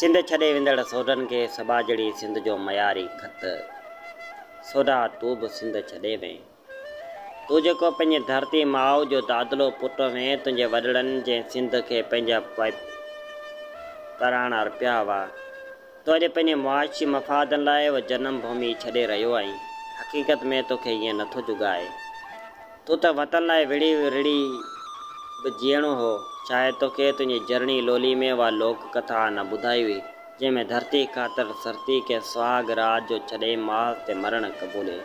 سنڌ ڇڏي ويندڙ سوڍن کي سٻاجهڙي سنڌ جو معياري خط، سوڍا تون به سنڌ ڇڏي وئين. تون جيڪو پنهنجي ڌرتي ماء جو دادلو پٽ هئين، تنهنجي وڏڙن جنهن سنڌ کي پنهنجا پراڻ ارپيا هئا، تو اڄ پنهنجي معاشي مفادن لاء اها جنم ڀومي ڇڏي رهيو آهين، حقيقت ۾ تو کي ائين نٿو جڳائي. تو ته وطن لاء وڙهي رڙهي به جيئڻو هو. شايد تو کي تنهنجي جرڻي لولي ۾ اها لوڪ ڪٿا نه ٻڌائي هئي، جنهن ۾ ڌرتي خاطر سرتي کي سهاڳ راڄ جو ڇڏي ماء تي مرڻ قبولي.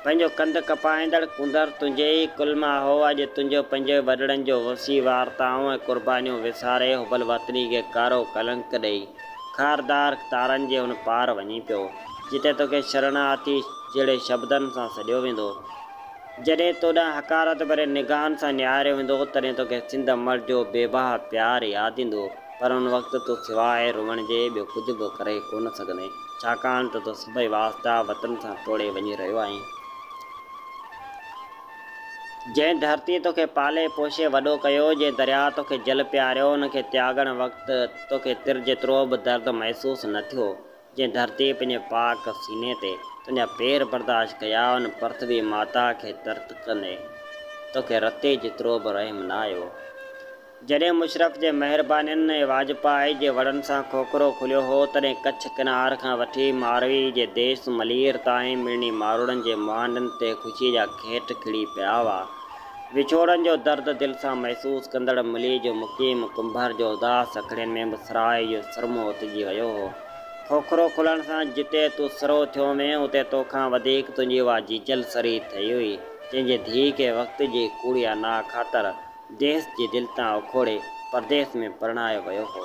پنهنجو ڪنڌ ڪپائيندڙ ڪنڌر تنهنجي ئي ڪل مان هو اڄ تنهنجو پنهنجي وڏڙن جو وسيع وارتائون ۽ قربانيون وساري حب الوطني کي ڪارو ڪلنڪ ڏئي خاردار تارن جي ان پار وڃي پيو جتي توکي شرڻ آتيش جهڙي شبدن سان سڏيو ويندو جڏهن توڏانهن حقارت ڀرين نگاهن سان نهاريو ويندو تڏهن توکي سنڌ امڙ جو بي بها پيار ياد ايندو. پر ان وقت تون سواء روئڻ جي ٻيو ڪجهه به ڪري ڪونه سگهندين، ڇاڪاڻ ته تون سڀئي واسطا وطن سان ٽوڙي وڃي رهيو آهين. جنهن ڌرتيء توکي پالي پوشي وڏو ڪيو، جنهن درياء توکي جل پياريو، ان کي تياڳڻ وقت توکي تر جيترو به درد محسوس نه ٿيو. جنهن ڌرتيء پنهنجي پاڪ سيني تي تنهنجا پير برداشت ڪيا، ان پرٿوي ماتا کي ترت ڪندي توکي رتي جيترو به رحم نه آيو. جڏهن مشرف جي مهربانين ۽ واجپائي جي وڙن سان کوکرو کليو هو، تڏهن ڪڇ ڪنار کان وٺي ماروي جي ديس ملير تائين مڙني ماروئڙن جي مهانڊن تي خوشيء جا کيٽ کڙي پيا هئا. وڇوڙن جو درد دل سان محسوس ڪندڙ ملي جو مقيم ڪنڀر جو اداس اکڙين ۾ به سرهائي جو سرمو اوتجي ويو هو. کوکرو کلڻ سان جتي تون سرهو ٿيو هئين، اتي تو کان وڌيڪ تنهنجي اها جيجل سرهي ٿئي هئي، جنهن جي ڌيء کي وقت جي ڪوڙي انا خاطر ديس جي دل تان اکوڙي پرديس ۾ پرڻايو ويو هو.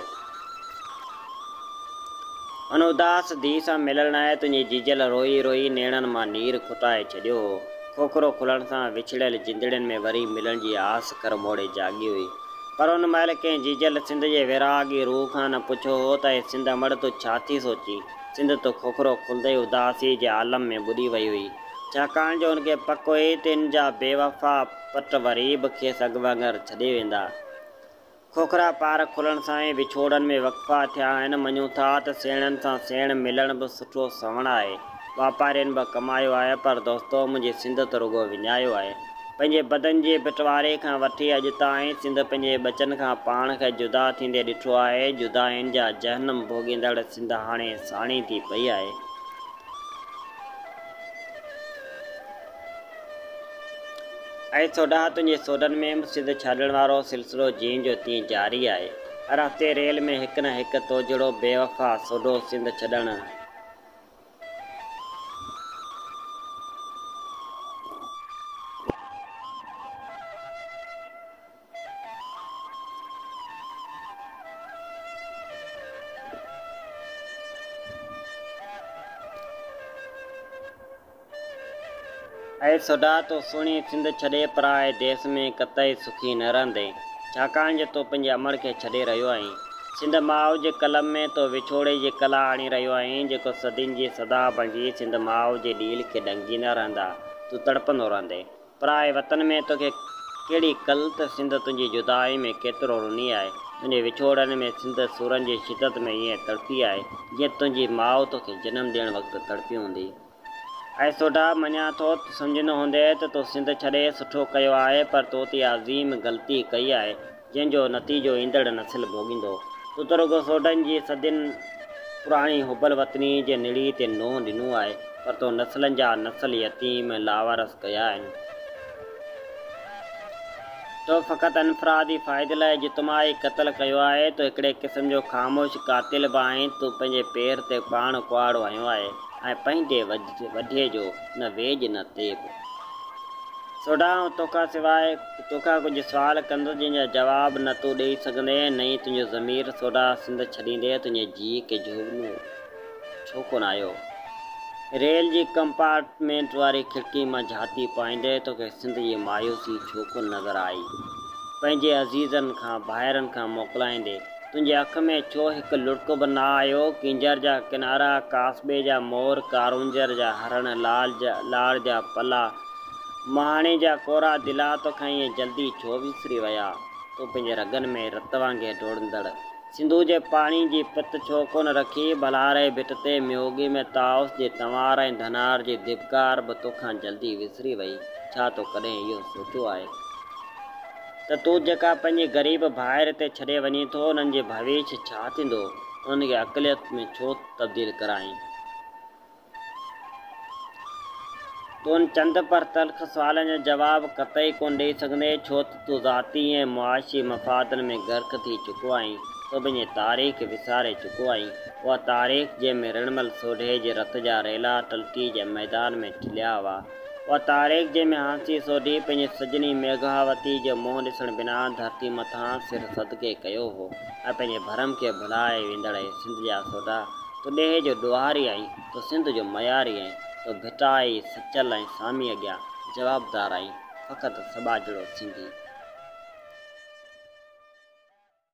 ان اداس ڌيء سان ملڻ لاء تنهنجي جيجل روئي روئي نيڻن مان نير کتائي ڇڏيو هو. کوکرو کلڻ سان وڇڙيل جندڙين ۾ وري ملڻ جي آس ڪرموڙي جاڳي هئي. پر ان مهل ڪنهن جيجل سنڌ جي ويراڳي روح کان نه پڇيو هو ته اي سنڌ امڙ تون ڇا ٿي سوچين؟ سنڌ تو کوکرو کلندي ئي اداسيء جي عالم ۾ ٻڏي وئي هئي. ڇاڪاڻ جو هن کي پڪ هئي ته هن جا بيوفا پٽ وري به کيس اڳ وانگر ڇڏي ويندا. کوکرا پار کلڻ سان ئي وڇوڙن ۾ وقفا ٿيا آهن. مڃون ٿا ته سيڻن سان سيڻ ملڻ به سٺو سوڻ آهي. واپارين به ڪمايو آهي پر دوستو منهنجي سنڌ ته رڳو وڃايو آهي. پنهنجي بدن جي بٽواري کان وٺي اڄ تائين سنڌ پنهنجي ٻچن کان پاڻ کي جدا ٿيندي ڏٺو آهي. جدائين جا جهنم ڀوڳيندڙ سنڌ هاڻي ساڻي ٿي پئي آهي. اي سوڍا! تنهنجي سوڍن ۾ به سڌ ڇڏڻ وارو سلسلو جيئن جو تيئن جاري آهي. هر هفتي ريل ۾ هڪ نه هڪ تو جهڙو بي وفا سوڍو سنڌ ڇڏڻ. اي سوڍا! تون سهڻي سنڌ ڇڏي پرائي ديس ۾ قطعي سکي نه رهندين، ڇاڪاڻ جو تون پنهنجي امڙ کي ڇڏي رهيو آهين. سنڌ ماء جي قلم ۾ تون وڇوڙي جي ڪلا آڻي رهيو آهين، جيڪو صدين جي صدا بڻجي سنڌ ماء جي ڏيل کي ڏنگجيندا رهندا، تون تڙپندو رهندين. پرائي وطن ۾ توکي ڪهڙي ڪل ته سنڌ تنهنجي جدائي ۾ ڪيترو رني آهي تنهنجي وڇوڙن ۾ سنڌ سورن جي شدت ۾ ائين تڙپي آهي جيئن تنهنجي ماء توکي جنم ڏيڻ وقت تڙپي هوندي اي سوڍا مڃان ٿو ته سمجهندو هوندينء ته تو سنڌ ڇڏي سٺو ڪيو آهي پر تو تي عظيم غلطي ڪئي آهي جنهن جو نتيجو ايندڙ نسل ڀوڳيندو. سترڳو سوڍن جي صدين پراڻي حب الوطني جي نڙي تي نونهن ڏنو آهي، پر تو نسلن جا نسل يتيم ۽ لاوارث ڪيا آهن. تو فقط انفرادي فائدي لاء اجتماعي قتل ڪيو آهي، تو هڪڙي قسم جو خاموش قاتل به آهين، تو پنهنجي پير تي پاڻ ڪهاڙو هنيو آهي ۽ پنهنجي وڍي جو نه ويڄ نه تيب. سوڍا آئون توکان سواء. تو کان ڪجهه سوال ڪندس جن جا جواب نه تون ڏيئي سگهندين ۽ نه ئي تنهنجو ضمير سوڍا سنڌ ڇڏيندي تنهنجي جيء کي جهوڳنو ڇو ڪونه آيو. ريل جي ڪمپارٽمينٽ واري کڙڪي مان جهاتي پائيندي توکي سنڌ جي مايوسي ڇو ڪونه نظر آئي. پنهنجي عزيزن کان ڀائرن کان موڪلائيندي تنهنجي اک ۾ ڇو هڪ لڙڪ به نه آيو. ڪينجهر جا ڪنارا، ڪاسٻي جا مور، ڪارونجهر جا هرڻ، لاڙ جا پلا، مهاڻي جا ڪورا دلا توکان ائين جلدي ڇو وسري ويا؟ تون پنهنجي رڳن ۾ رت وانگي ڊوڙندڙ سنڌوء جي پاڻي جي پت ڇو ڪونه رکي؟ ڀلاري ڀٽ تي ميوڳي ۾ طائوس جي تنوار ۽ ڌنار جي ڌٻڪار به توکان جلدي وسري وئي. ڇا تو ڪڏهن اهو سوچيو آهي ته تون جيڪا پنهنجي غريب ڀائر هتي ڇڏي وڃين ٿو، انهن جي ڀويش ڇا ٿيندو؟ انهن کي اقليت ۾ ڇو تبديل ڪرائين؟ تون چند پر تلخ سوالن جو جواب قطعي ڪونه ڏئي سگهندين، ڇو ته تون ذاتي ۽ معاشي مفادن ۾ غرق ٿي چڪو آهين. تون پنهنجي تاريخ وساري چڪو آهين. اها تاريخ جنهن ۾ رڻمل سوڍي جي رت جا ريلا ٽلڪي جي ميدان ۾ ٽليا هئا. اها تاريخ جنهن ۾ هانسي سوڍي پنهنجي سڄڻي ميگهاوتي جو منهن ڏسڻ بنا ڌرتي مٿان سر صدقي ڪيو هو ۽ پنهنجي ڀرم کي ڀلائي ويندڙ هي سنڌ جا سوڍا، تو ڏيهه جو ڏوهاري آهين، تو سنڌ جو مياري آهين، تو ڀٽائي، سچل ۽ سامي اڳيان جوابدار آهين، فقط سٻاجهڙو سنڌي.